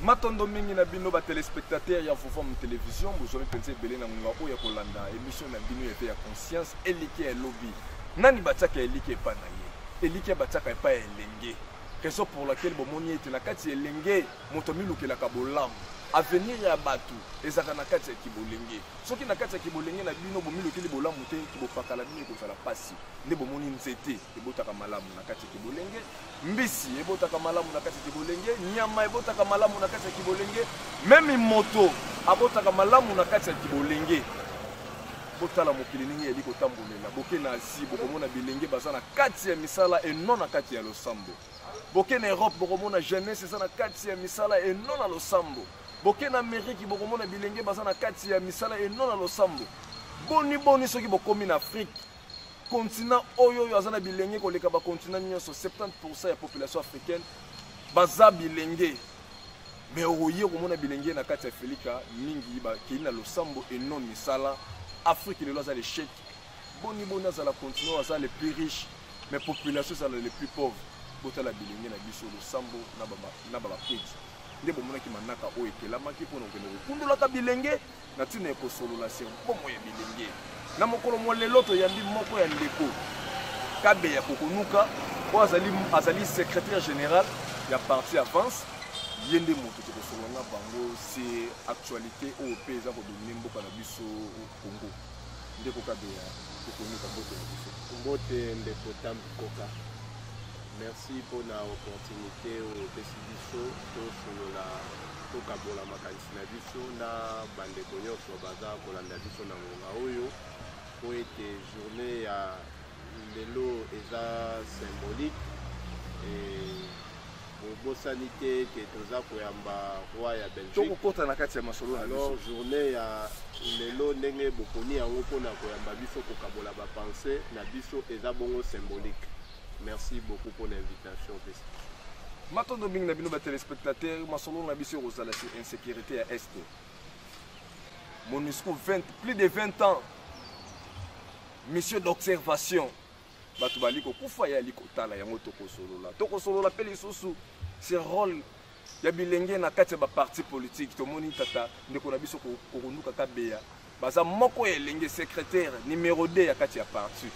matondo mingi na bino batelespectateur ya vovam television bozwami mpenza ebele na ngonga oyo ya kolanda emission na bino ete ya conscience eliki ya lobi nani batiaka eliki epai na ye eliki ya batiaka epai ya elenge raison pour laquelle bomoni ete na kati ya elenge moto amilukelaka bolamu avenir ya bato ezalaka na kati ya kibolenge soki na kati ya kibolenge na bino bomilukeli bolamu te kibopaka na bino ekozala mpasi nde bomoni nzete ebotaka malamu na kati ya kibolenge mbisi ebotaka malamu na kati ya kibolenge nyama ebotaka malamu na kati ya kibolenge meme moto abotaka malamu na kati ya kibolenge botala mokili ndenge yali kotambolela boke na asie bokomona bilenge baza na kati ya misala eno na kati ya losambo boke na europe bokomona jeunesse eza na kati ya misala et non na losambo boke na ameriki bokomona bilenge baza na kati ya misala et non na losambo boni boni soki bokomi na afrique continent oyo oyo aza na bilenge koleka bacontinent nyonso 70 pourcent ya population africaine baza bilenge me okoye komona bilenge na kati ya felika mingi bakei na losambo et non misala afrique lelo aza lechec boni boni azala continue aza le plus riche mais population ezala le plus pauvre botala bilenge na biso losambo na babakweti nde bomonaki manaka oyo ekelamaki mpo na kokende kokundolaka bilenge na ntina ya kosolola se bomoi ya bilenge na mokolo mwa lelo toyambi moko ya ndeko kabe ya kokonuka oyo azali, azali secrétaire général ya parti avance ye nde moto tokosolola na bango se actualité oyo mpe eza kodomine mboka na biso Congo. Ndeko Kabeya, tokonika mbote na biso. Mbote ndeko Tambu Koka. Merci mpo na opportunité oyo epesi biso tosolola tokabola makanisi na biso na bandeko nyonso baza kolanda biso na ngonga oyo mpo ete journée ya lelo eza symbolique bobosani te ke toza koyamba roi ya belgique tokokota na kati ya masolo na alors journée ya lelo ndenge boponi yango mpona koyamba biso kokabola bapense na biso eza bongo symbolique merci beaucoup mpo na invitation pesi matondo mingi na bino batelespectateur masolo na biso ekozala sur insécurité ya este monusco 20 plus de 20 ans mission d'observation bato bali kokufa ye ali kotala yango tokosolola tokosolola mpe lisusu se role ya bilenge na kati ya baparti politike tomoni tata ndeko na biso kokonduka kabeya baza moko ya elenge secrétaire numero 2 ya kati ya parti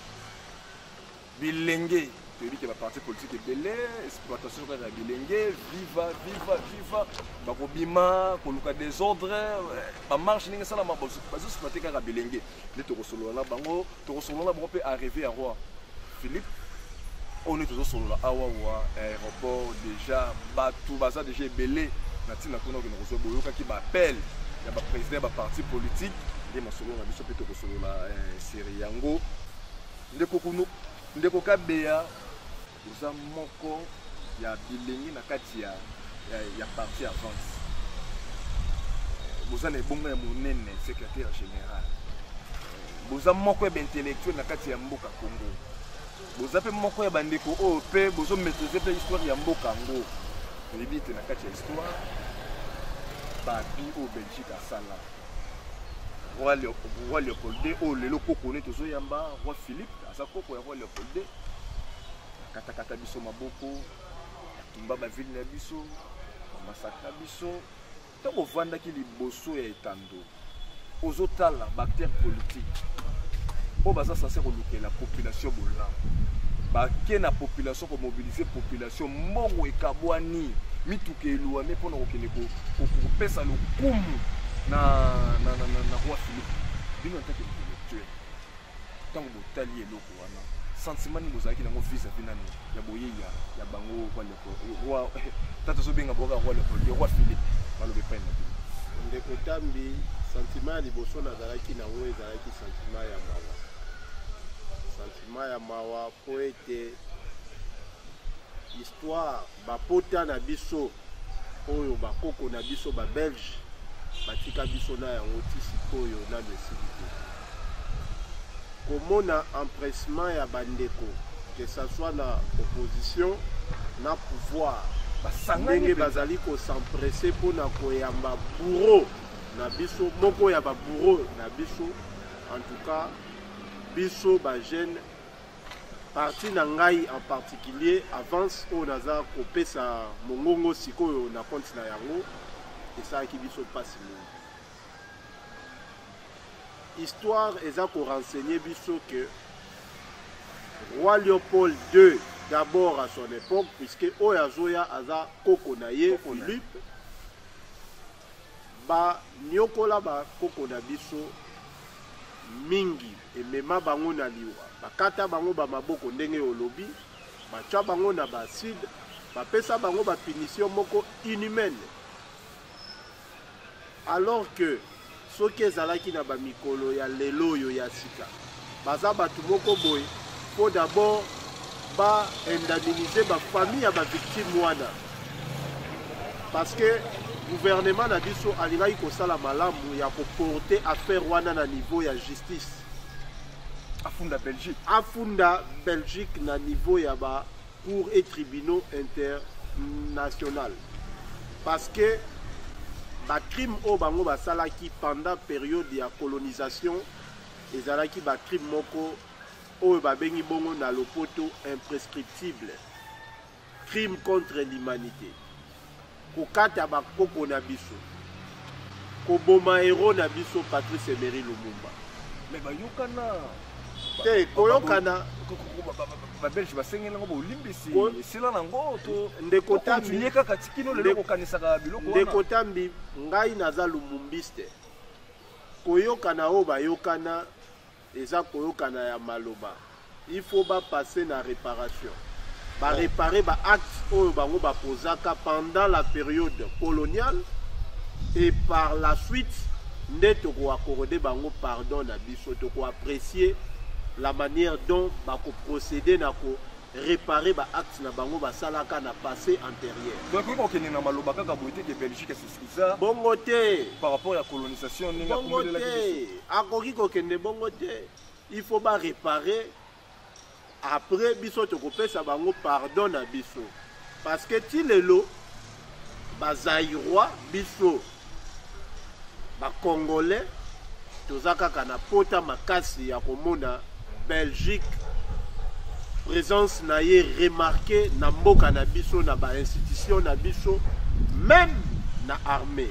bilenge toyebi ke baparti politike ebele exploitation kaka ya bilenge viva viva viva bakobima koluka desordre eh, bamarche ndenge esalama bazoexploite kaka bilenge nde tokosolola na bango tokosolola na bango mpe arrive ya roi philippe oyo nde tozosolola awa wa aéroport déjà bato baza déjà ebele na ntina kuna okende kozwa boyokaki baappel ya baprésident ya baparti politique nde masolo na biso mpe tokosolola eh, serie yango Ndeko Kuno, ndeko Kabeya, oza moko ya bilengi na kati ya, ya, ya parti avance boza na ebonga ya monene secrétaire général boza moko ya baintellectuel na kati ya mboka congo boza mpe moko ya bandeko oyo mpe bozomaîtrise mpe histoire ya mboka yango oyebi ete na kati ya histoire babi oyo belgique asala roi leopold de oyo lelo koko ne tozoyamba roi philippe aza koko ya roi leopold de akatakata biso maboko atumba bavile na biso bamasakra biso ntango ovandaki liboso ya etando ozotala baacteur politique oyo baza sanse kolukela population bolamu bake na population komobilize population so mbongo ekabwani mituka eluami mpo na kokende kopesa lokumu na roi philippe bino atake intellectuel ntango botali eloko wana sentiment nini bozalaki nango vis-à-vis nani ya boyei ya bango eh, tata azobenga boka roi leopold roi philippe baloba epai na bino ndeko tambi sentiment ya liboso nazalaki nango ezalaki sentiment ya mawa sentiment ya mawa mpo ete histoire bapota na biso oyo bakoko na biso babelge batika biso na yango ti sikoyo nano esili te komona empressement ya bandeko que ça soit na opposition na pouvoir ndenge bazali kosempresse mpo na koyamba bouro na biso moko ya babouro na biso en tout cas biso bajeune parti na ngai en particulier avance oyo naza kopesa mongongo sikoyo na konti na yango esalaki biso mpasi mingi histoire eza korenseigne biso ke roi léopold ii d'abord à son époque puisque oyo azoya aza koko na ye philippe baniokola bakoko na biso mingi emema bango na liwa bakata bango bamaboko ndenge olobi batya bango na baacide bapesa bango bapinisio moko inhumaine alors que soki ezalaki na bamikolo ya lelo oyo ya sika baza bato moko boye mpo d'abord baindemnise bafamille ya bavictime wana parce que gouvernement na biso alingaki kosala malamu ya koporte affaire wana na niveau ya justice afunda belgique afunda belgique na niveau ya ba cours et tribunaux international parce que bacrime oyo bango basalaki pendant période ya colonisation ezalaki bacrime moko oyo babengi bongo na lopoto imprescriptible crime contre l'humanité kokata bakoko na biso koboma hero na biso patrice emery lumumba mais bayokana te koyokana babelge basengeli yango bolimbisi esila nango ndeko tambi kaka tikino lelo kokanisaka biloko wana ndeko tambi ngai naza lumumbiste koyokana oyo bayokana eza koyokana ya maloba il faut ba passer na réparation ba oh. réparer ba actes oyo bango ba posaka pendant la période coloniale et par la suite nde toko accorde bango pardon na biso toko apprécier la manière dont ba ko procéder na ko réparer ba actes na bango basalaka na passé antérieur. Donc il faut que na maloba kaka boite que Belgique eza bongo te par rapport ya colonisation ndenge bongo te akoki kokende bongo te il faut ba réparer après biso tokopesa bango pardon na biso parce que ti lelo bazairois biso bacongolais toza kaka na pota makasi ya komona Belgique présence na ye remarqué na mboka na biso na ba institution na biso même na armée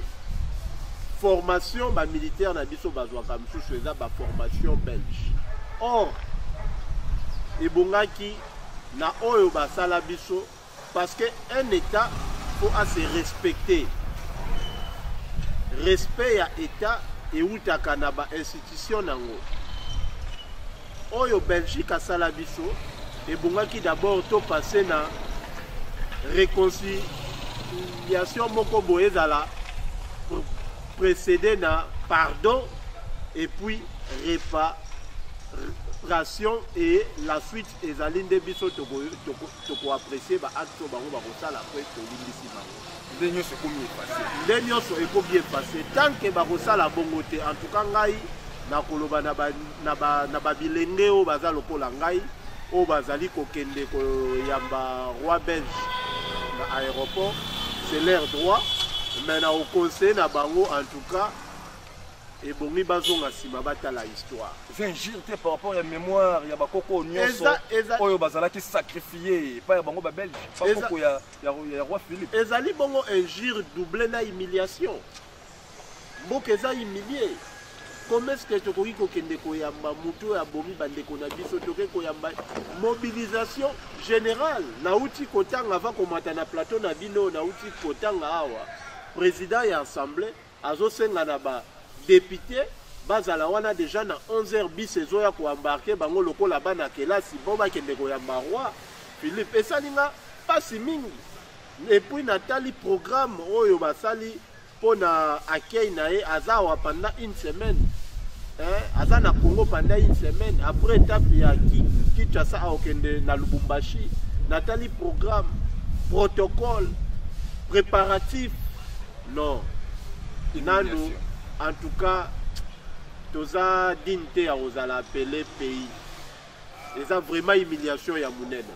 formation ba militaire na biso bazwaka mosusu eza ba formation belge or ebongaki na oyo basala biso Parce que un État faut à se respecter. Respect ya État et outaka na ba institution nango. Oyo Belgique asala biso ebongaki d'abord to passer na réconciliation moko boye ezala précédé na pardon et puis réparation et la suite ezali nde biso toko, toko, toko apprécier ba actes oyo bango bakosala après tolimbisi bango nde nyonso ekomi efase nde nyonso ekomi efase tant que bakosala bongo te en tout cas ngai nakoloba na babilenge oyo baza lokola ngai oyo bazali kokende koyamba roi belge na aéroport c'est leur droit mais na oconseille na bango en tout cas ebongi bazonga nsima batala histoire eza injure te par rapport ya mémoire ya bakoko nyonso oyo bazalaki sacrifie epai ya bango babelge bakoko ya, ya, ya roi philippe ezali bongo injure double na humiliation mboka eza humilie comment est-ce que tokoki kokende koyamba motu oyo abomi bandeko na biso toke koyamba mobilisation générale nauti kotanga ava komata na plateau na bino nauti kotanga awa président ya assemblée Azosenga na ba depute bazala wana deja na 11h bis ezoya koembarke bango lokola bana kelasi mpo bakende koyamba roi philippe esali nga mpasi mingi epuis natali programme oyo basali mpo na accueil na ye aza awa pendant une semaine eh, aza na congo pendant une semaine après etape ya kinshasa aokende na lubumbashi natali programme protocole préparatif non nanu en tout cas toza digne te ya kozala appele pays eza vraiment humiliation ya monene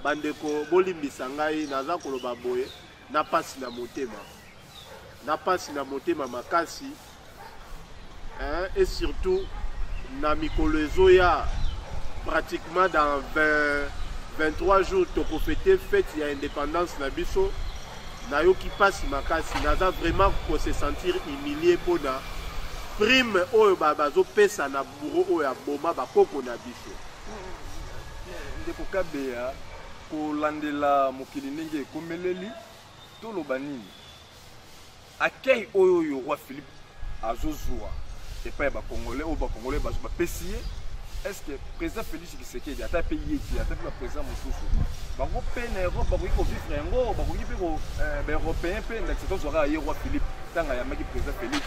bandeko bolimbisa ngai naza koloba boye na mpasi na motema na mpasi na motema makasi hein, et surtout na mikolo ezoya pratiquement dans 20, 23 jours tokofete fete ya indépendance na biso nayoki mpasi makasi naza vraiment kose sentir humilie mpo na prime oyo bazopesa na bouro oyo aboma bakoko na biso ndeko kabeya kolandela mokili ndenge ekomeleli toloba nini Accueil oyo yo roi Philippe azozua epai ya bakongolais oyo bakongolais bazo bapesi ye est-ce que président Félix Tshisekedi ata pe ye ti ata pe ba président mosusu bango pe na Europe bakoki ko vivre yango bakoki pe ko euh, ba européen pe ndakisa tozwaka ye roi Philippe ntango ayambaki président Félix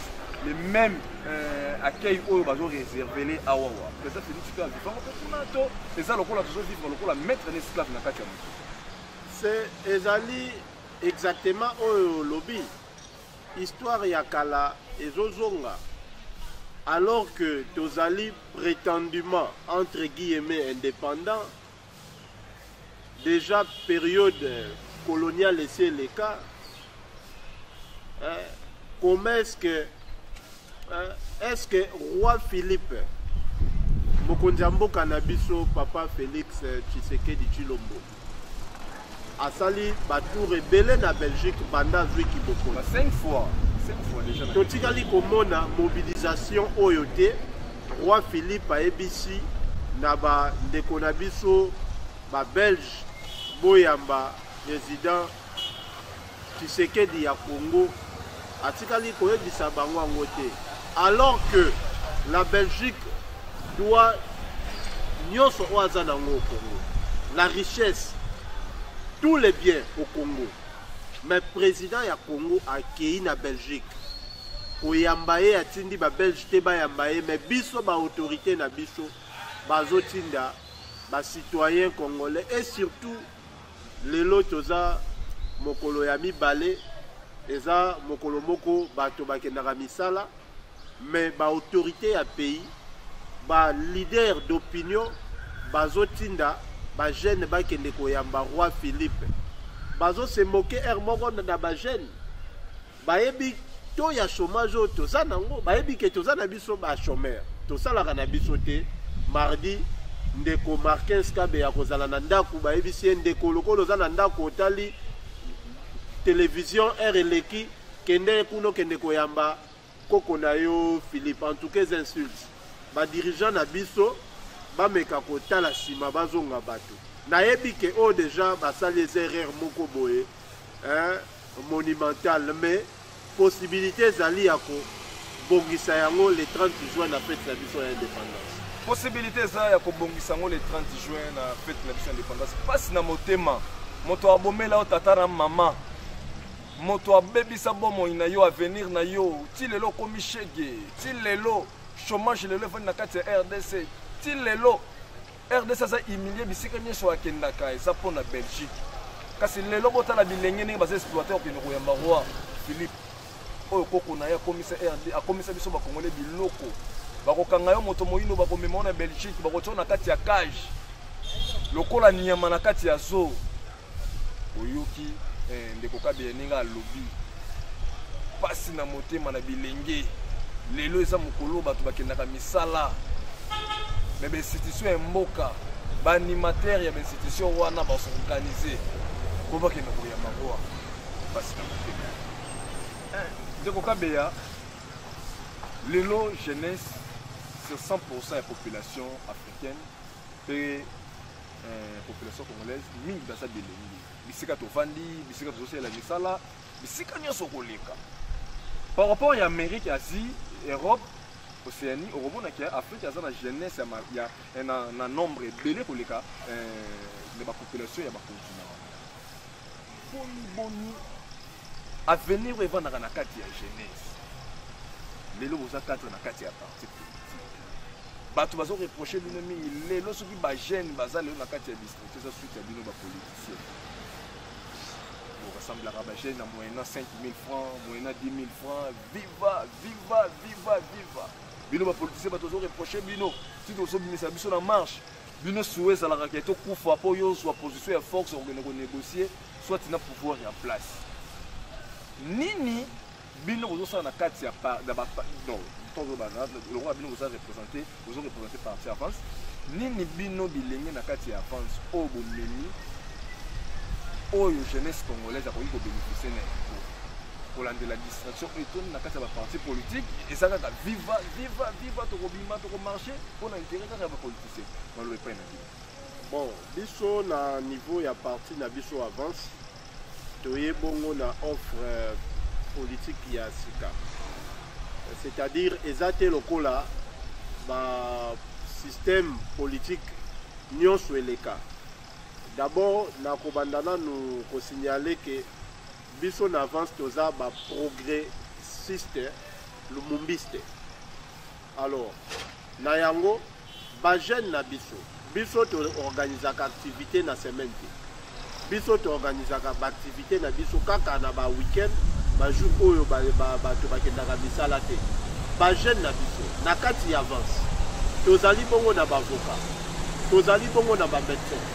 le même euh, accueil oyo bazo réservele awawa président Félix pe avivango pe kuna to eza lokola tozo vivre lokola maître na esclave na kati ya moto ezali Exactement oyo lobi histoire ya kala ezozonga alors que tozali prétendument entre guillemets indépendant déjà période coloniale esi eleka eh, comment est-ce que eh, est-ce que roi philippe mokonzi ya mboka na biso papa félix tshisekedi tshilombo asali batour ebele na belgique banda azwi kibokoli totikali komona mobilisation oyo te roi philippe ayebisi na bandeko na biso babelge boyamba président Tshisekedi ya Congo atikali koyebisa bango yango te alors que la Belgique doit nyonso oyo aza nango au Congo la richesse tous les biens au Congo mais président ya Congo akei na Belgique koyamba ye atindi babelge te bayamba ye mais biso baautorité na biso bazotinda bacitoyen congolais et surtout Lelo toza mokolo ya mibale eza mokolo moko bato bakendaka misala mais ba autorité ya pays ba leader d'opinion bazotinda bajeune bakende koyamba roi philippe bazose moke heure moko na bajeune bayebi to ya chômage oyo toza nango bayebi ke toza na biso bachômeur tosalaka na biso te mardi ndeko markins kabe ya kozala na ndako bayebisi ye ndeko lokola oza na ndako otali televizio heure eleki kende kuna okende koyamba koko na yo philippe en tout cas insulte badirigant na biso bameka kotala nsima bazonga bato nayebi ke oyo oh, deja basali eza erreur moko boye eh? monumentale mais possibilite ezali ya kobongisa yango le 30 juin na fete na biso ya indépendance possibilité eza ya kobongisa yango le 30 juin na fete na biso ya indépendance mpasi na motema moto abomela yo tata na mama moto abebisa bomoi na yo avenir na yo ti lelo okomi shege ti lelo chômage lelo efandi na kati ya rdc ti lelo rdc aza humilie bisika nyonso akendaka eza mpo na belgique kasi lelo botala bilenge ndenge baza exploite okende koyamba roi philippe oyo koko na ye akomisa rd akomisa biso bakongole biloko bakokanga yo moto moyindo bakomema yo na belgique bakotya na kati ya cage lokola nyama na kati ya zoo oyoki eh, ndeko kabila ndenge alobi mpasi na motema na bilenge lelo eza mokolo bato bakendaka misala me bainstitution ya mboka baanimatere ya bainstitution wana basorganize mpo bakenda koyamba ngoa mpasi na motema eh, ndeko kabeya lelo jeunesse sur 100 ya population africaine mpe eh, population congolaise mingi baza bilenge bisika tovandi bisika tozosalela misala bisika nyonso koleka par rapport ya amérique asie europe océanie okomona ke afrique aza na jeunesse ya, ya, eh, na, na nombre ebele koleka eh, na bapopulation ya bakontinent boni boni avenir oyo evandaka na kati ya jeunesse lelo boza kati na kati ya parti politique bato bazo reproche bino mingi lelo soki bajeune baza lelo na kati ya district eza suite ya bino bapoliticien borasemblaka bajeune na moyena 5 000 francs moyena 10 000 francs viva viva viva viva bino bapoliticien bato bazo reproche bino ti tozobimisa biso na marche bino suwa ezalaka ke tokufa mpo yo ozwa position ya force okokende konégocier soit na pouvoir ya place nini bino bozosala na kati ya lokola bino boza représente bozo représente parti avance nini bino bilenge na kati ya avance oyo bomemi oyo jeunesse congolaise akoki kobénéficie na yango kolandela distraction oyo etoni na kati ya baparti politique eza kaka viva viva viva tokobima tokomarche mpo na intere kaka ya bapolitique se baloba epai na bino bon biso na niveau ya parti na biso avance toye bongo na offre euh, politique ya sika c'est-à-dire eza te lokola ba système politique nyonso eleka d'abord nakobanda nanu kosignale ke biso na avance toza baprogressiste lumumbiste Alors, na yango, ba jeunes na biso, biso to organisaka activité na semaine te. Biso to organisaka ba activité na biso kaka na ba week-end, ba jour oyo ba ba ba to bakendaka misala te. Ba jeunes na biso na kati ya avance. Tozali bongo na ba avocats. Tozali bongo na ba médecins.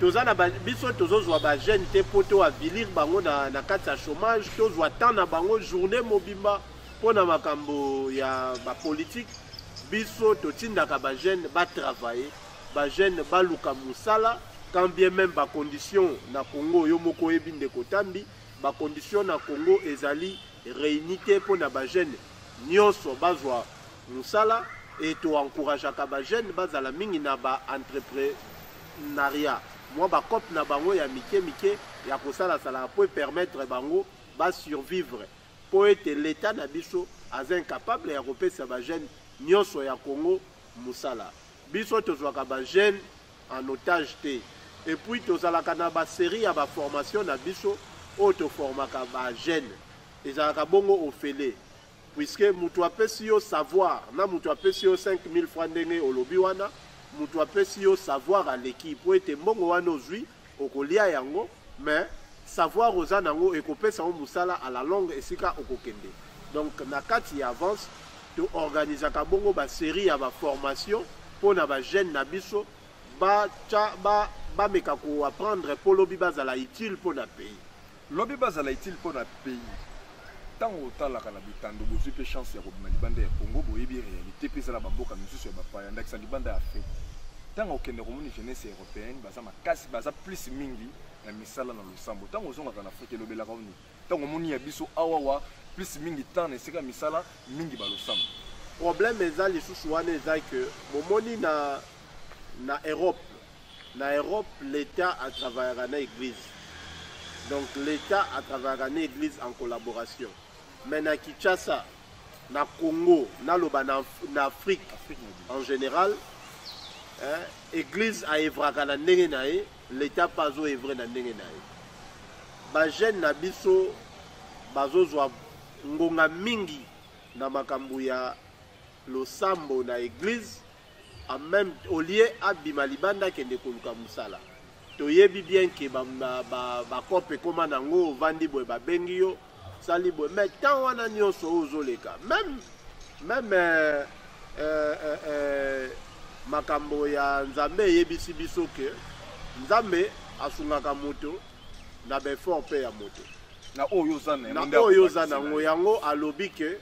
toza na biso tozozwa ba jeune te mpo to avilir bango na, na kati ya chômage tozwa temps na bango journée mobimba mpo na makambo ya bapolitike biso totindaka bajeune batravaille bajeune baluka mosala quand bien même bacondition na congo yo moko oyebi ndeko tambi bacondition na congo ezali réuni te mpo na bajeune nionso bazwa mosala et to encourageaka ba jeunes bazala mingi na ba entreprenariat mwa ba cop na bango ya mike mike ya kosala sala po permettre bango ba survivre po ete l'etat na biso aza incapable ya kopesa ba jeunes nionso ya Congo mosala biso tozwaka ba jeunes en otage te et puis tozalaka na ba série ya ba formation na biso oyo toformaka ba jeunes Ezalaka bongo ofele. Puisque mutu apesi yo savoir na mutu apesi yo 5000 francs ndenge olobi wana, mutu apesi yo savoir aleki po ete mbongo wana ozwi okolia yango mais savoir oza nango ekopesa yo musala à la longue esika okokende. Donc na kati ya avance to organisaka bongo ba série ya ba formation pona ba jeunes na biso ba cha ba bameka ko apprendre po lobi bazala utile pona pays. Lobi bazala utile mpo na pays. Ntango otalaka na bitando bozwi mpe chance ya kobima libanda ya Congo boyebi realite mpe eza na bamboka misusu ya bapaya ndakisa libanda ya Afrique. Ntango okende komoni jeunesse européenne baza makasi baza plus mingi na misala na losambo. Ntango ozongaka na Afrique elobelaka oni. Ntango omoni ya biso awawa plus mingi temps na esika misala mingi balosambo. Problème eza lisusu wana eza que bomoni na na Europe Na Europe l'etat a travaillaka na eglise. Donc l'etat a travaillaka na eglise en collaboration. Mais na Kinshasa, na Congo, na loba na, na Afrique, Afrique en général, hein, eglise a evraka na ndenge na ye, l'etat pas azo evrer na ndenge na ye. Ba jeunes na biso bazozwa ngonga mingi na makambo ya losambo na eglise en même au lieu abima libanda akende koluka mosala toyebi bien ke bacope ekoma na yango ovandi boye babengi yo sali boye mais temps wana nyonso oyo ozoleka meme meme euh, euh, euh, euh, makambo ya nzambe eyebisi biso ke nzambe asungaka moto na baeffort mpe ya moto na oyo oza na yango yango alobi ke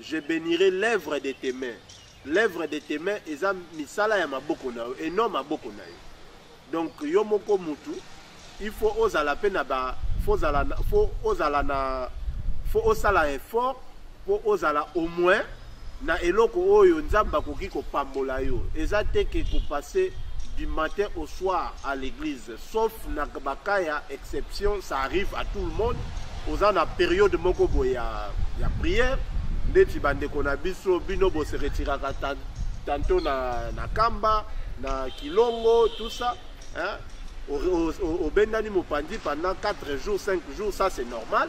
Je benirai l'œuvre de tes mains. L'œuvre de tes mains eza misala ya maboko na yo et non maboko na yo. Donc yo moko mutu il faut ozala pe na ba faut ozala faut ozala na faut osala effort pour ozala au moins na eloko oyo nzambe akoki kopambola yo eza te ke kopase du matin au soir à l'église sauf na ba cas ya exception ça arrive à tout le monde oza na période moko boye ya, ya prière ndeti bandeko na biso bino bose retiraka tanto na, na kamba na kilongo tout ça hein? obendani mopanzi pendant 4 jours 5 jours ça c'est normal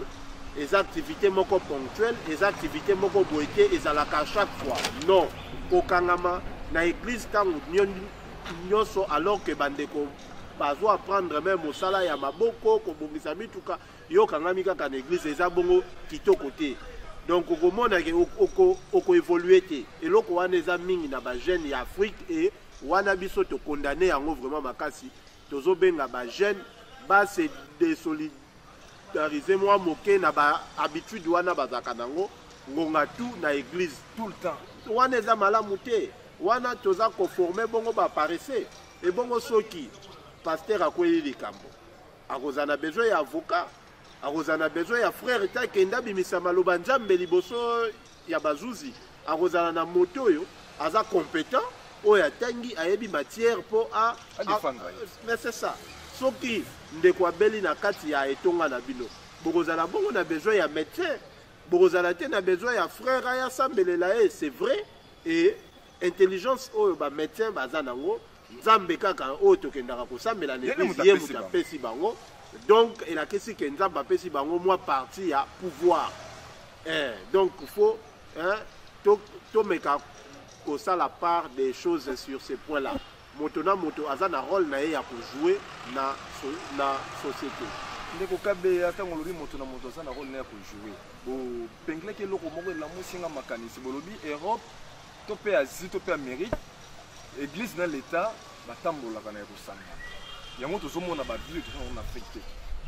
eza activité moko ponctuelle eza activité moko boye te ezalaka chaque fois non kokangama na église ntango nyonso alors que bandeko bazo apprendre meme mosala ya maboko kobongisa mituka yo okangami kaka na eglise eza bongo kitoko te donc okomona ke okoevolue te eloko wana eza mingi na bajeune ya afrique e wana biso tokondane yango vraiment makasi tozobenga bajeune base desolidarize mwa moke na bahabitude wana bazalaka nango ngonga tu na eglise tout le temps wana eza malamu te wana toza koforme bongo baparese ebongo soki pasteur akweli likambo akozala na besoin ya avocat akozala na besoin ya frère te akende abimisa maloba nzambe liboso ya bazuzi akozala na moto oyo aza competent oyo atangi ayebi matière mpo a mais c'est ça soki ndeko abeli na kati ya etonga na bino bokozala bongo na besoin ya médecin bokozala te na besoin ya frère aya asambelela ye c'est vrai et intelligence oyo ba médecin baza nango nzambe kaka oyo tokendaka kosambela na eglise ye moto apesi bango donc elakisi ke nzambe apesi bango mwa parti ya pouvoir eh, donc faut eh, tomeka to kosala part des choses sur ce point là Moto na moto aza na role na ye ya ko jouer na, so, na société. Ndeko Kabeya, ntango olobi moto na moto aza na role na ye ya ko jouer, bopenglaki eloko moko elamusi nga makanisi. Bolobi Europe to mpe Asie to mpe Amerique, Eglise na l'Etat batambolaka na ya kosangana. Yango tozomona ba vieux toza na Afrique te.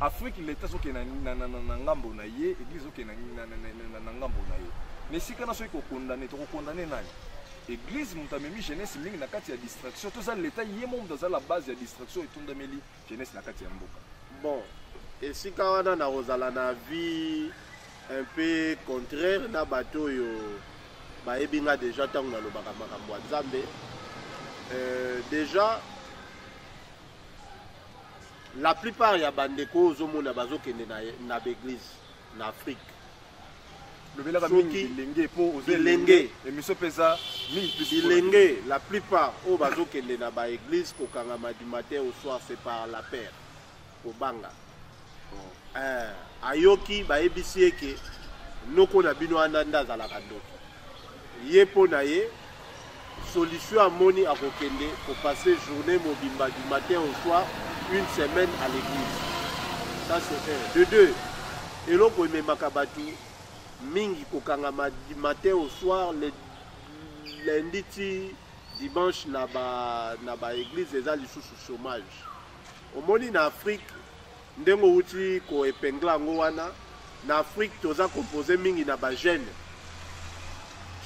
Afrique l'Etat azokende na, na, na, na ngambo na ye, Eglise azokende na, na, na, na, na, na ngambo na ye. Na esika na soki kokondane, tokokondane nani? Eglise moto amemi jeunesse mingi na kati ya distraction toza leta ye mo moto aza la base ya distraction etondameli jeunesse na kati ya mboka bon esika wana nakozala na vie un peu contraire na bato oyo bayebi nga deja ntango nalobaka makambo ya nzambe euh, deja la plupart ya bandeko ozomona bazokende na, na baeglise na afrique lobelaka mingi bilenge mpo ozelenge emission mpe eza mingi bilenge la plupart oyo bazokende na baeglise kokangama du matin au soir c'est par la père kobanga eh, ayoki bayebisi ye ke noko na bino wana nde azalaka ndoki Ye mpo na ye solution amoni akokende ko passer journée mobimba du matin au soir une semaine à l'église ça c'est un de deux eloko ememaka bato mingi kokangama du matin au soir le lundi ti dimanche na ba na ba église eza lisusu chômage omoni na afrique Ndenge owuti ko epingler yango wana na Afrique toza compose mingi na ba jeunes.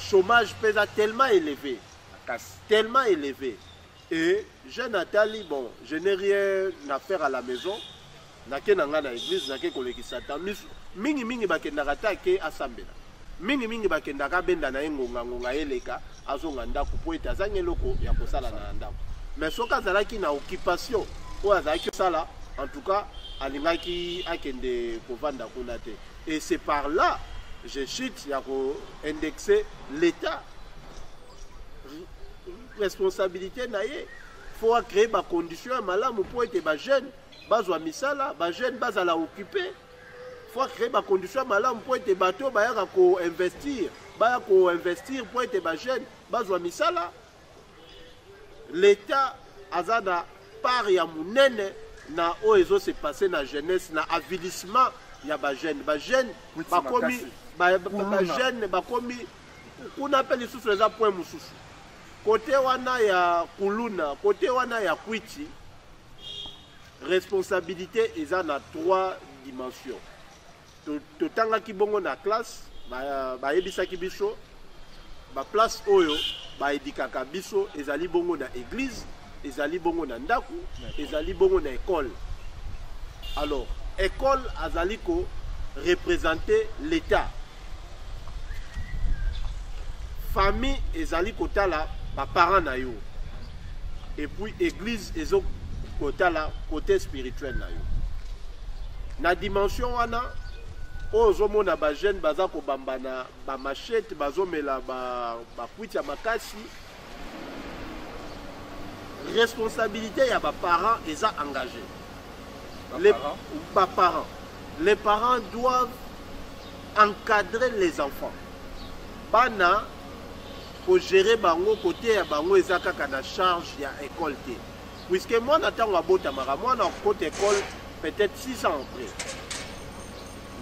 Chômage pesa tellement élevé. Tellement élevé. Et jeune atali bon, je n'ai rien à faire à la maison. Nake nanga na église, nake kolekisa temps. Mingi mingi bakendaka ta ke asambela. Mingi mingi bakendaka abenda na ye ngonga ngonga eleka azonga ndako mpo ete azangi eloko ya kosala na ndako. Mais soki azalaki na occupation oyo azalaki kosala, en tout cas alingaki akende kovanda kuna te. Et c'est par là je chute ya ko indexer l'État responsabilité na ye faut acree bacondition ya malamu mpo ete bajeune bazwa misala bajeune bazala occupe faut acree bacondition ya malamu mpo ete bato oyo bayaka koinvestir baya koinvestir mpo ete bajeune bazwa misala leta aza na part ya monene na oyo ezo se passe na jeunesse na avilissement ya bajeune bajeune bakomi bajeune bakomi kuna mpe lisusu eza point mosusu kote wana ya kuluna kote wana ya kwiti Responsabilite eza na trois dimensions. Totangaki bongo na classe, bayebisaki biso ba place oyo baedikaka biso ezali bongo na eglise, ezali bongo na ndaku, ezali bongo na école. Alors, école azali ko représenter l'État. famille ezali kotala baparent na yo epuis église ezo kotala côté spirituel na yo na dimension wana oyo ozomona bajeune baza kobamba na bamachete bazomela bakwiti ba ya makasi responsabilité ya ba parents eza engagé les ba parents les parents doivent encadrer les enfants bana kogere bango koteya bango eza kaka na charge ya école te puisque mwana ntango abotamaka mwana akokota école peut-être 6 ans après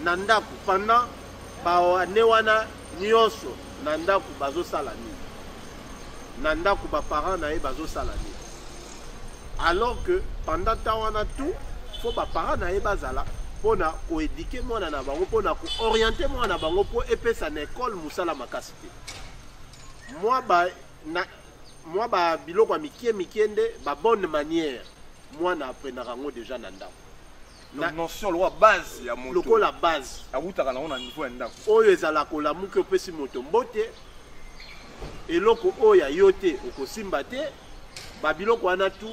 na ndako pendant Ba ne wana nionso na ndaku bazo sala nini? Na ndaku ba parents na ye bazo sala nini? Alors que pendant temps wana tout faut ba parents na ye bazala pona ko éduquer mwana na bango pona ko orienter mwana na bango po epesa na école musala makasi te. Mwa ba na mwa ba biloko ya mikie mikie nde ba bonne manière mwana aprenaka yango deja na ndako na notion lokola base ya moto lokola base awutaka nango na niveau ya ndako oyo ezala kolamuki opesi moto mbote eloko oyo ya yo te okosimba te babiloko wana tu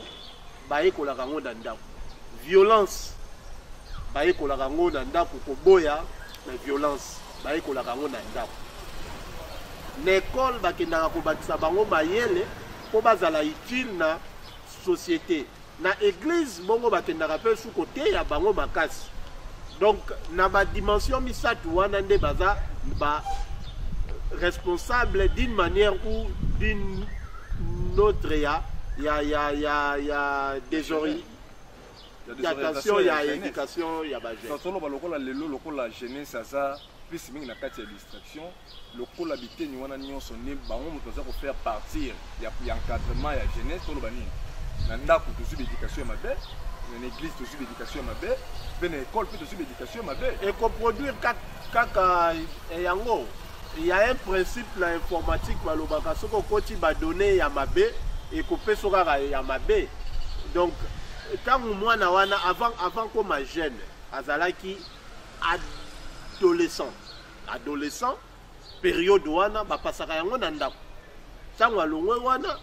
bayekolaka yango na ndako violence bayekolaka yango na ndako koboya na violence bayekolaka yango na ndako na ekole bakendaka kobakisa bango mayele mpo bazala utile na société na eglise bongo bakendaka mpe su koteya bango makasi donc na badimension misato wana nde baza ba responsable d'une manière ou d'une autre ya ya ya ya ya désori d'attention ya éducation ya bajeune toloba lokola lelo lokola jeunesse aza plus mingi na kati ya distraction lokola biteni wana nyonso nde bango moto aza kofaire partir ya encadrement ya jeunesse toloba nini na ndako tozwi baéducation ya mabe na église tozwi baéducation ya mabe mpe na école mpe tozwi baéducation ya mabe ekoproduire kaka eh, yango ya un principe na informatique balobaka soki okoti badonne ya mabe ekopeso kaka ya mabe donc ntango mwana wana avant, avant koma jeune azalaki adolescent adolescent periode wana bapasaka yango na ndako ntango alongwe wana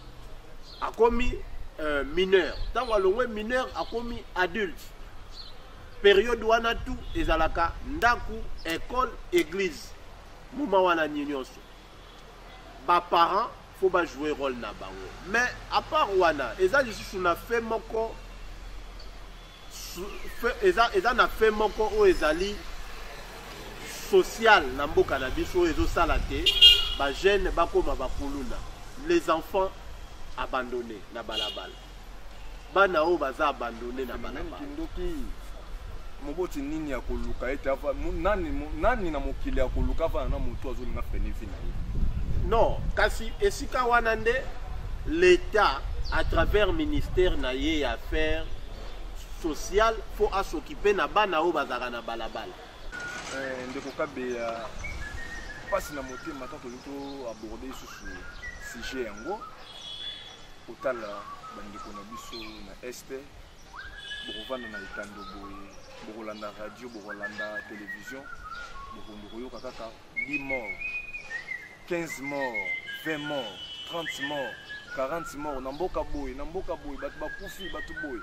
akomi euh, mineur ntango alongwe mineur akomi adulte periode wana tu ezalaka ndako ecole église moma wana nini nyonso ba parents faut ba jouer role na bango mais à part wana eza lisusu na fait moko eza, eza na fait moko oyo ezali social na mboka na biso oyo ezosala te bajeune bakoma bakuluna les enfants abandonne na balabala bana oyo baza abandone na balabala moboti nini ya koluka ete nani, nani na mokili ya koluka avana na moto azolinga frene vi na ye non kasi esika wana nde l'état à travers ministère na ye ya affaire sociale mpo asokipe na bana oyo bazalaka na balabala eh, ndeko kabeya mpasi na motema ntango tolingi toaborde lisusu sujet yango kotala bandeko na biso na este bokovanda na etando boye bokolanda radio bokolanda televizio bokondo koyoka kaka 10 mort 15 mort 20 mort 30 mort 40 mort na mboka boye na mboka boye bato bakufi bato boye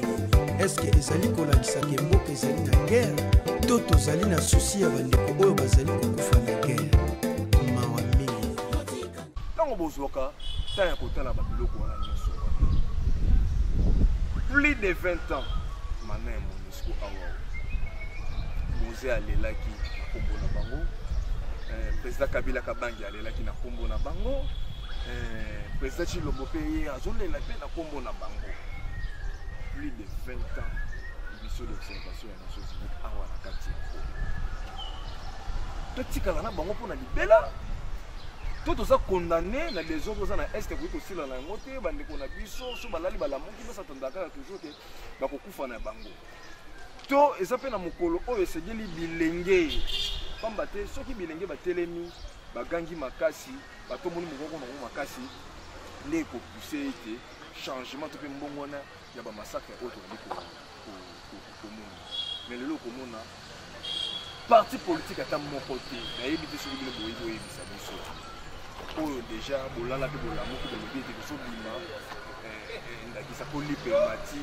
mosusu eske ezali kolakisa ke mboka ezali na guerre to tozali na susi ya bandeko oyo bazali kokufa na guerre mawa mingi ntango bozwaka ntan ya kotala babiloko wana nyonso plus de 20 ans mana ya monisco awa moze alelaki na nkombo na bango eh, president kabila kabangi alelaki na nkombo na bango Président Chilombo mpe ye azolela mpe na nkombo na bango plus de 20 ans biso d'observation ya nations unies awa na kati ya kongo totikala na bango mpo na libela to toza condamne na desordre oza na est ekoki kosila na yango te bandeko na biso so balali balamuki biso atandaka kaka toujours te bakokufa na bango to eza mpe na mokolo oyo esengeli bilenge pamba te soki bilenge batelemi bagangi makasi bato omoni mokoko na yango makasi nde ekopuse ete changement to mpe mbongwana ya bamasakre oyo tozali komona me lelo okomona parti politike ata moko te nayebi te soki bino boyebi oyebisa biso oyo deja bolala mpe bolamuki bolobi ete tozobima ndakisa mpo lipermati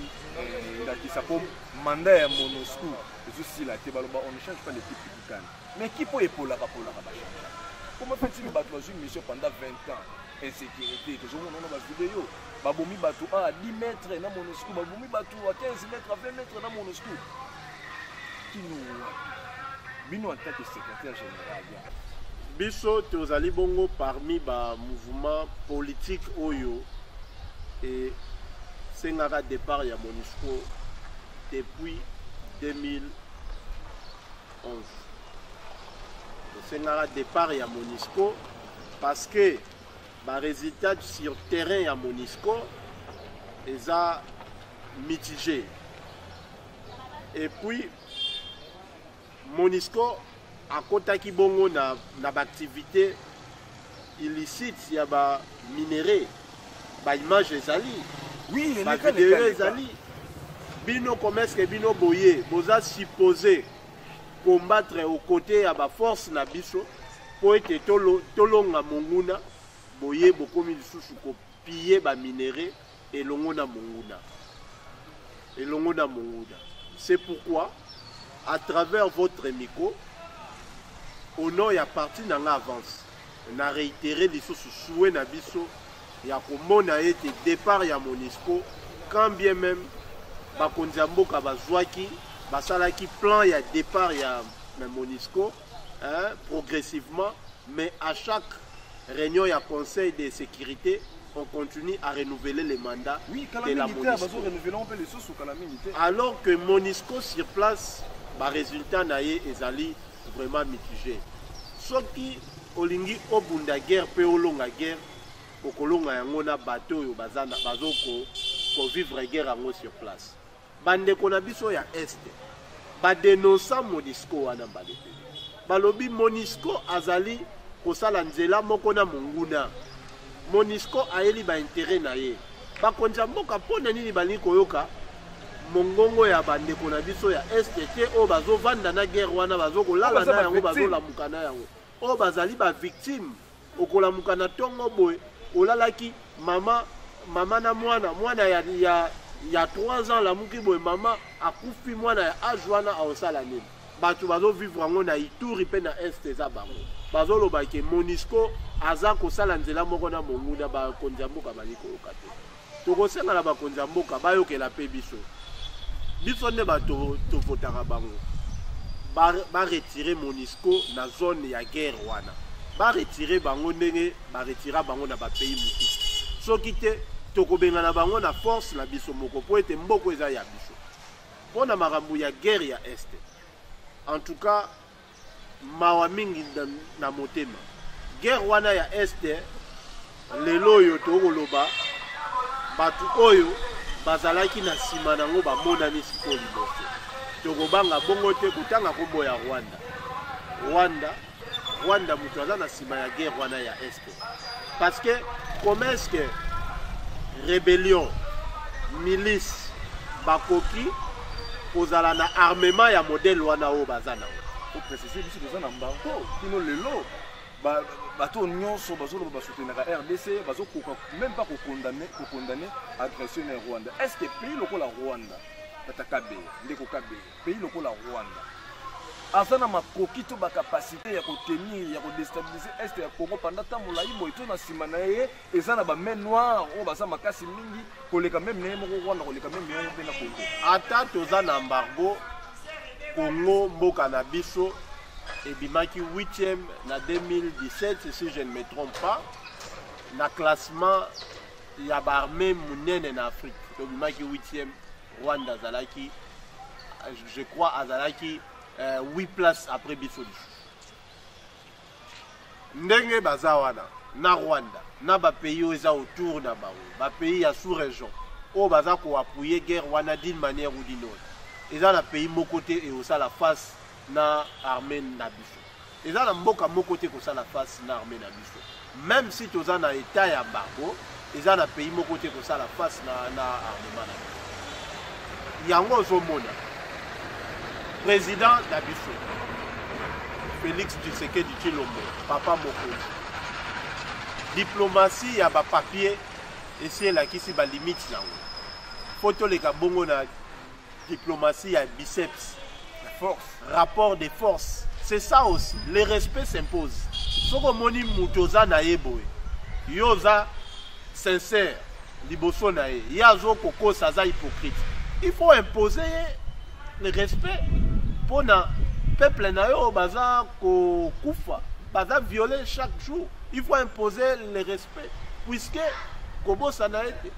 ndakisa mpo manda ya monosco ezosila te baloba on ne change pas l'équipe publicane Mais qui peut epolaka polaka ba change. Comment fait-il battre une mission pendant 20 ans insécurité que je vois dans ma vidéo babomi bato a ah, 10 mètres na monosco babomi bato a 15 mètres a 20 mètres na monosco kino bino en tant que secrétaire général ya biso tozali bongo parmi ba mouvement politique oyo e esengaka départ ya monisco depuis 2000 tosengaka départ ya monisco parce que baresultat sur terrain ya monisco eza mitigé et puis monisco akotaki bongo na, na baactivité illicite ya ba minerais ba image ezali oui, ba video ezali bino komeske bino boye boza suppose combattre au côté ya ba force na biso mpo ete tolonga monguna boye bokomi lisusu kopille ba minerais elongo na monguna elongo na monguna c'est pourquoi à travers votre micro au nom ya parti na nga avance na réitéré lisusu souhait na biso ya komona ete départ ya monisco quand bien même bakonzi ya mboka bazwaki basalaki plan ya départ ya monisco hein, progressivement, mais à chaque réunion a conseil de sécurité, on continue à renouveler les mandats oui, de la Monisco. Alors que Monisco sur place, bah, résultat naïe ezali vraiment mitigé. Sauf qui olingi obunda guerre pe olonga guerre, okolonga yango na bateau oyo bazo ko vivre guerre sur place. Bandeko na biso ya Est badenonsa Monisco wana mbala ebele. Balobi Monisco azali kosala nzela moko na monguna. Monisco ayeli baintere na ye. Bakonzi ya mboka mpo na nini balingi koyoka mongongo ya bandeko na biso ya Est te oyo bazovanda na guerre wana bazokolala na yango bazolamuka na yango oyo bazali ba victime okolamuka na tongo boye olalaki mama mama na mwana mwana ya, ya, ya 3 ans alamuki boye mama akufi mwana ya age wana aosala nini bato bazovivre yango na ituri mpe na est eza bango bazoloba ke monisco aza kosala nzela moko na monguna bakonzi ya mboka bali koyoka te Tokosenga na bakonzi ya mboka bayokela mpe biso. Biso nde bato tovotaka bango. Baretire ba Monisco na zone ya guerre wana. Baretire bango ndenge baretira bango na bapays mosusu. Soki te tokobengana bango na force na biso moko mpo ete mboko eza ya biso. Mpo na makambo ya guerre ya Este. En tout cas, Mawa mingi na motema. Guerre wana ya Est lelo oyo tokoloba bato oyo bazalaki na nsima nango bamonani sikoyo liboso. Tokobanga bongo te kotanga nkombo ya Rwanda. Rwanda, Rwanda moto aza na nsima ya guerre wana ya Est. Parce que comment est-ce que rébellion, milice, bakoki kozala na armement ya modèle wana oyo baza na oyo préciser biso toza na mbango kino lelo bato oyo nyonso bazoloba basoutenaka rdc bazokoka même pas kokondane kokondane agression ya rwanda est ce que pays lokola rwanda tata kabeye ndeko kabeye pays lokola rwanda aza na makoki to bacapacité ya kotenir ya kodestabilise este ya congo panda ntango molai boye to na nsima na ye eza na bamain noire oyo baza makasi mingi koleka meme na ye moko rwanda koleka meme yango mpe na congo ata toza na embargo congo mboka na biso ebimaki 8e na 2017 si je ne me trompe pas na classement ya baarmée monene na afrique tobimaki 8e Rwanda azalaki je crois azalaki euh, 8 place après biso lisusu ndenge baza wana na rwanda na bapays oyo eza autour na bango bapays ya sous région oyo baza koapuye guerre wana d'une manière ou d'une autre eza na pays moko te ekosala face na armée na biso eza na mboka moko te kosala face na armée na biso même si toza na état ya embargo eza na pays moko te kosala face na, na armement na biso yango ozomona président na biso félix tshisekedi tshilombo papa mokonzi diplomatie ya bapapier esi elakisi balimite yango mpo toleka bongo na Diplomatie ya biceps. La force. Rapport de force. C'est ça aussi. Le respect s'impose. Soki omoni moto oza na ye boye, yo oza sincère liboso na ye, ye azo kokosa aza hypocrite. Il faut imposer ye le respect mpo na peuple na yo baza kokufa, baza violer chaque jour. Il faut imposer le respect puisque kobosana ete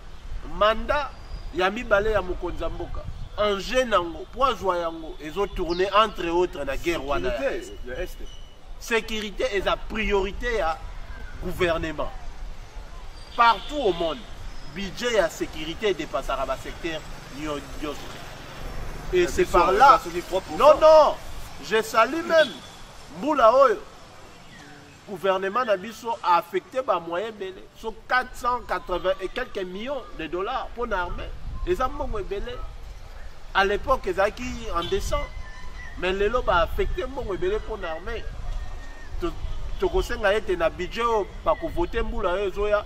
mandat ya mibale ya mokonzi ya mboka enjeu nango mpo azwa yango ezo tourne entre autres na guerre wana ya est sécurité eza priorité ya gouvernement partout au monde budget ya sécurité edepassaka basecteur nyonso et c'est par là non non je salue même mbula oyo Gouvernement na biso a affecté ba moyens belé, so 480 et quelques millions de dollars pour l'armée. Les mbongo belé. À l'époque, ils acquis en décembre. Mais les lobes a affecté mbongo belé pour l'armée. tokosenga ete na budget oyo bakovote mbula oyo ezoya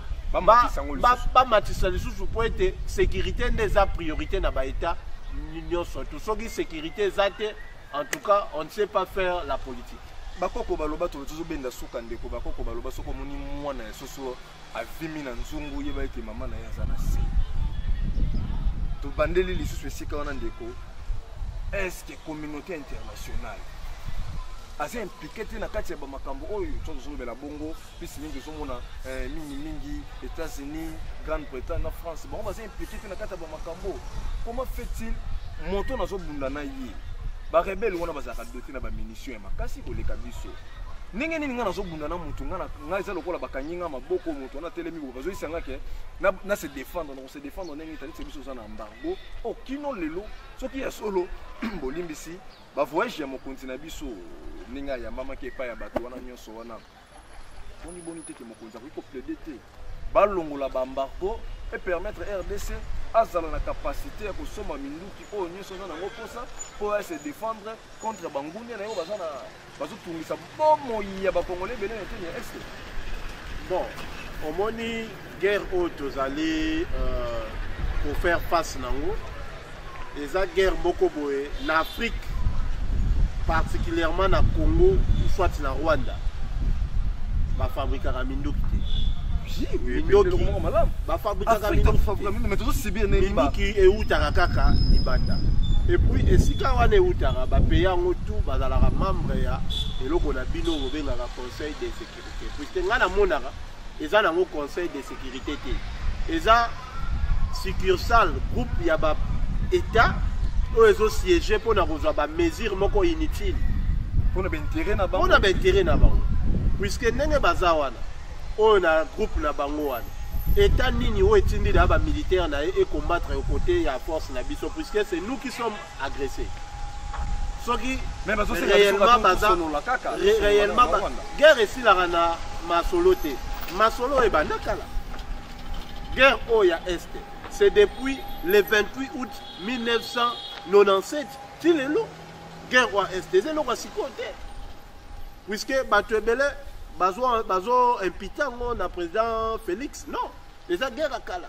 bamatisa lisusu mpo ete sécurité nde eza priorité na baetat nyonso tu soki sécurité eza te En tout cas, on ne sait pas faire la politique. bakoko baloba tolo tozobenda suka ndeko bakoko baloba soki omoni mwana ya soso avimi na nzungu yeba ete mama na ye aza na se tobandeli lisusu esika wana ndeko estce communauté internationale aza implike te na kati ya bamakambo oyo tozozolobela bongo plus mingi ozomona eh, mingi mingi états-unis grande bretagne na france bango baza implike te na kati ya bamakambo comment fait-il moto nazobunda na ye barebele wana bazalaka dote na bamunition ya makasi koleka biso ndenge nini ngai nazobunda na motu ngai eza lokola bakangi ngai maboko motu wana atelemi boye bazoyisa ngai ke na se défendre na kose défendre ndenge etali se biso oza na embargo o oh, kino lelo soki ya solo bolimbisi bavoyage ya mokonzi na biso ndenge ayambamaki epai ya bato wana nyonso wana boni boni te ke mokonzi akoki koplaide te balongola baembargo epermettre rdc azala na capacité ya kosomba minduki oyo nyonso aza nango mposa mpo ya se défendre contre bangunia na yango baza na bazotungisa bomoi ya bakongole ebele na eteni ya este bon omoni guerre oyo tozali euh, kofaire face nango eza guerre moko boye na afrique particulièrement na congo soit na rwanda bafabrikaka minduki te mindoki bafabrikaka minduki eutaka kaka libanda epuis esika wana eutaka bapeya yango tu bazalaka membre ya eloko na bino bobengaka conseil de sécurité puisque ngai namonaka eza nango conseil de sécurité te eza succursale groupe ya ba état oyo ezosiége mpo na kozwa bamesure moko inutile mpo na baintere na bango puiske ndenge baza wana oyo na groupe na bango wana état nini oyo etindi na bamilitaire na ye ecombatre kote ya force na biso puiske c'est nous qui sommes agresse soki réellement guerre esilaka na masolo te masolo oyo ebanda kala guerre oyo ya est c'est depuis le 28 août 1997 ti lelo guerre oyo ya est eza eloko ya sikoyo te puisque bato ebele bazo impita yango na président félix non eza guerre ya kala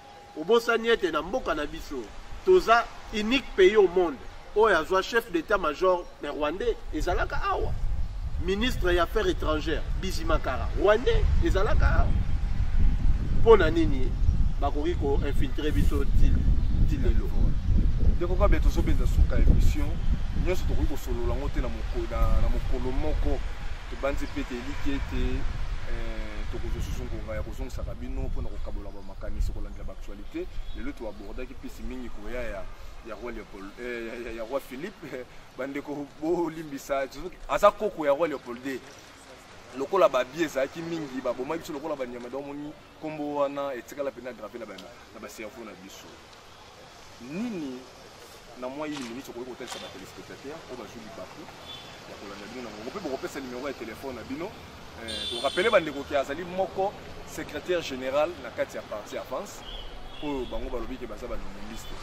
Obosani ete na mboka na biso toza unique pays au monde oyo azwa chef d'état major na rwandais ezalaka awa ministre ya affaires étrangères bizimakara rwandais ezalaka awa mpo na nini bakoki koinfiltre biso ti lelo ndeko kabe tozobenza suka émission nyonso tokoki kosolola yango te na mokolo moko tobanzi mpe te eliki ete eh, tokozwa susu ngonga ya kozongisaka bino mpo na kokabola makanisi kolandela baactualité lelo toabordaki mpisi mingi koya ya ya roi leopold eh, ya, ya, ya roi philippe bandeko bolimbisa aza koko ya roi leopold de lokola babie ezalaki mingi babomaki biso lokola banyama donc omoni nkombo wana etikala mpenza grave na bacerveau na biso nini na mwa yini miniti okoki kotalisa batelespectateur oyo bazwi libaku ya kolanda bino na mongo mpe bokopesa nimero ya telefone na bino korapele eh, bandeko ke azali moko secrétaire général na kati ya parti avance oyo bango balobi ke baza banoministe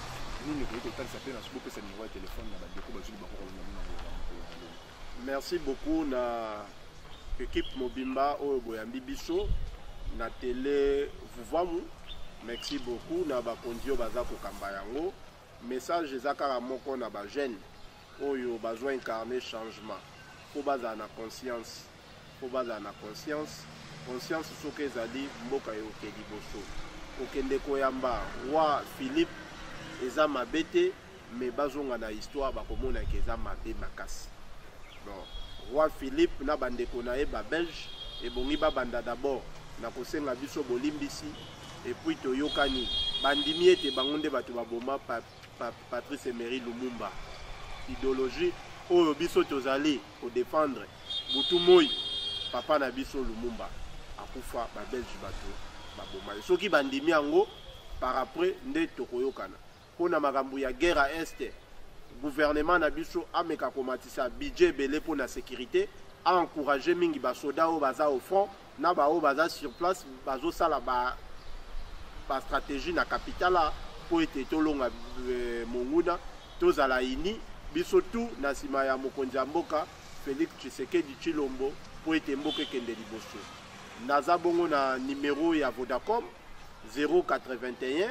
nini okoki kotalisa mpe na soki bopesa nimero ya telefone na bandeko bazwi libaku kolanda bino na mongo Merci beaucoup na equipe mobimba oyo boyambi biso na tele vuvamu merci beaucoup na bakonzi oyo baza kokamba yango message eza kaka moko na bajeune oyo bazwa incarne changement mpo bazala na conscience Faut bazala na conscience. Conscience soki ezali mboka eoke liboso. Kokende koyamba wa Philippe eza mabe te mais bazonga na histoire bakomona ke eza mabe makasi. Bon, roi Philippe na bandeko na ye ba Belge ebongi babanda d'abord na kosenga biso bolimbisi epuis toyokani bandimi ete bango nde bato baboma Patrice Emery Lumumba ideologie oyo biso tozali ko défendre butu moi papa na biso Lumumba akufa ba belge bato babomani soki bandimi yango par après nde tokoyokana mpo na makambo ya guerre à est gouvernement na biso ameka komatisa budget ebele mpo na sécurité a encourage mingi basoda oyo baza au front na baoyo baza sur place bazosala ba, ba stratégie na capitala mpo ete tolonga e, monguna tozala ini biso tu na nsima ya mokonzi ya mboka félix tshisekedi tshilombo mpo ete mboka ekende liboso naza bongo na nimero ya vodacom 081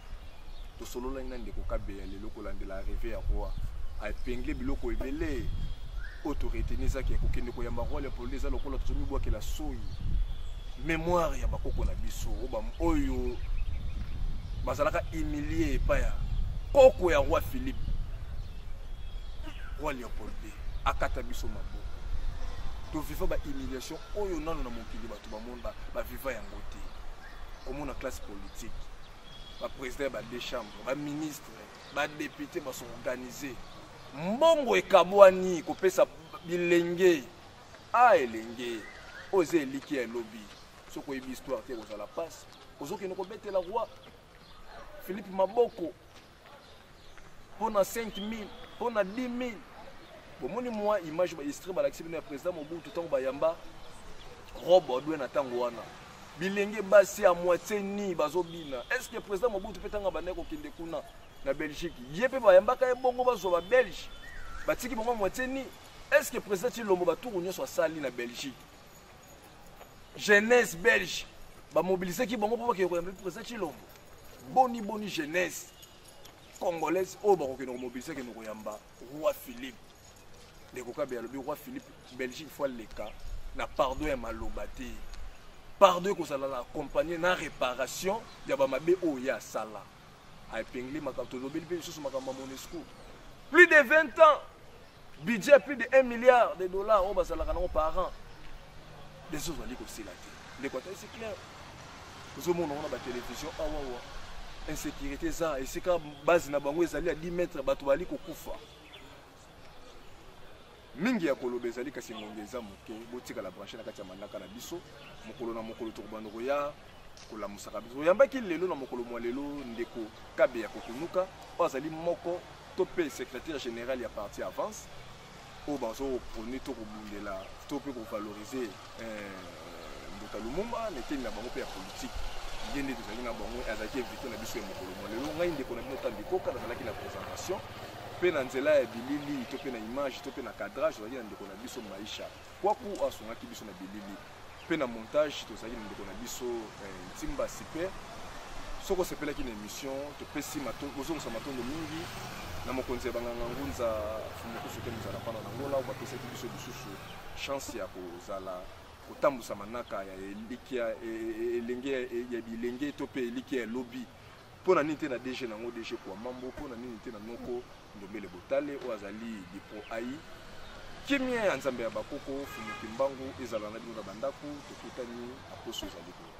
tosololaki na ndeko kabeya lelo kolandela reve ya roi aepengle biloko ebele oyo toreteni ezaki ya kokende koyamba roi leopolde eza lokola tozomibwakela soi mémoire ya bakoko na biso oyo bazalaka humilie epai ya koko ya roi philippe roi leopold ii akata biso maboko toviva bahumiliation oyo nano na mokili bato bamona baviva yango te komona classe politique ba président ya ba deux chambres ba ministre ba député ba s'organiser mbongo ekabwani kopesa bilenge a elenge oyo eza eliki ya elobi soki oyebi histoire te ekozala mpasi ozokende kobetela roi philippe maboko mpo na 5000 mpo na 10000 bomoni mwa image baestre balakisi bino ya président mobutu ntango bayamba robe odwe na ntango wana bilenge basi ya moitie ni bazobina est ce que président mobutu mpe ntango abandaki kokende kuna na belgique ye mpe bayambaka ye bongo bazwa babelge batiki bango moitie ni est ce que président tilombo baturu nyonso asali na belgique jeunesse belge bamobilisaki bango mpo bakende koyamba mpe président tilombo boni boni jeunesse congolaise oyo bakokende komobilise kende koyamba roi philippe ndeko kabe alobi roi philippe belgique fo aleka na pardon ya maloba te pardon ekozala na accompagne na réparation ya bamabe oyo ye asala aepingle makambo tolobeli mpe lisusu makambo ya monesco plus de 20 ans budget plus de 1 milliard de dollars oyo bazalaka nango par an deja ozali kosila te ndeko ata esi claire ozomona ngo na batelevizio awawa ah, insécurité eza esika base na bango ezali ya 10 mètre bato bazali kokufa mingi ya koloba ezali kasi ngonga eza moke botikala branche na kati ya manaka na biso mokolo na mokolo tokobanda koya kolamusaka biso oyambaki lelo na mokolo mwa lelo ndeko kabe ya kokunuka oyo azali moko to mpe secrétaire général ya parti avance oyo bazoprone to kobundela to mpe kovalorize eh, mbuta lumumba na eteni na bango mpe ya politike ye nde tozalaki na bango azalaki invité na biso ya mokolo mwa lelo ngai ndeko na bino tandi koka nazalaki na présentation mpe na nzela ya bilili to mpe na image to mpe na cadrage ozalaki na ndeko na biso maisha kwaku asungaki biso na bilili mpe na montage tozalaki na ndeko na biso eh, ntimba sipe soki osepelaki na émission topesi kozongisa matondo mingi na mokonzi ya banganga ngunza fumukusu te mozala mpana na ngola oyo bapesaki biso lisusu chance ya kozala kotambusa manaka ya elikya e, e, e, elenge ya bilenge to mpe elikya ya lobi Pona nini te na DG nango DG kwa mambo pona nini te na noko ndombele botale oyo azali dipro ai kimia ya nzambe ya bakoko fumuki mbangu ezala na bino na bandako tokutani na poso ezali koya